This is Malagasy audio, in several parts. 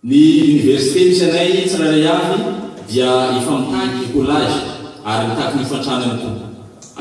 Ny Université misy anay tsirairay avy dia efa mitaky collage ary mitaky ny hofan-tranony koa.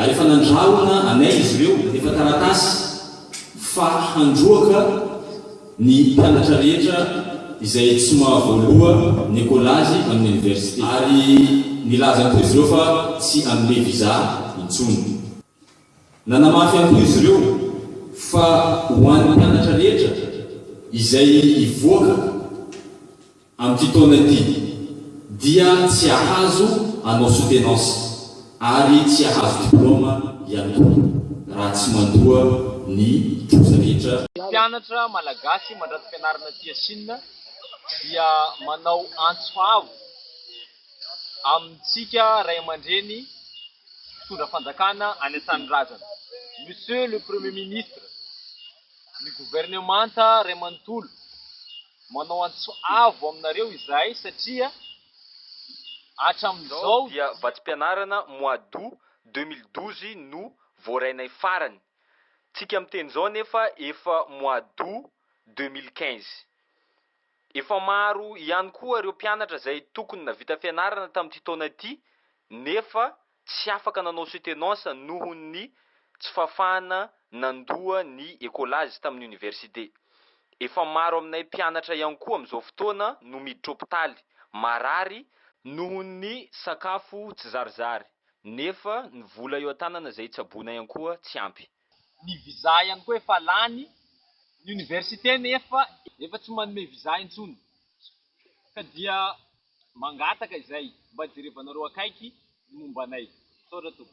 Ary efa nandrahona anay izy ireo nandefa taratasy fa handroaka ny mpianatra rehetra izay tsy mahavoaloha ny collage amin'ny Université. Ary nilazany koa izy ireo fa tsy hanome visa intsony. Nanamafy ihany koa izy ireo fa ho an'ny mpianatra rehetra izay hivoaka amin'ity taona ity dia tsy hahazo hanao soutenance ary tsy hahazo diplaoma ihany koa raha tsy mandoa ny trosa rehetra. Ny mpianatra malagasy mandranto-pianarana aty Sina dia manao antso avo. amintsika ray aman-dreny mpitondra fanjakana any an-tanindrazana. Monsieur le Premier ministre, ny governemanta ray manontolo manao antso avo aminareo izahay satria hatramin'izao dia vatsim-pianarana mois d'août deux mille douze no voarainay farany, tsika miteny izao nefa efa mois d'août deux mille quinze. Efa maro ihany koa ireo mpianatra izay tokony nahavita fianarana tamin'ity taona ity nefa tsy afaka nanao soutenance noho ny tsy fahafahana nandoa ny Ecolage tamin'ny Oniversite. Efa maro aminay mpianatra ihany koa amin'izao fotoana no miditra hopitaly, marary, noho ny sakafo tsy zarizary nefa ny vola eo an-tanana izay tsaboina ihany koa tsy ampy. Ny visa ihany koa efa lany, ny université nefa efa tsy manome visa intsony ka dia mangataka izay mba jerevanareo akaiky ny momba anay. Misaotra tompoko.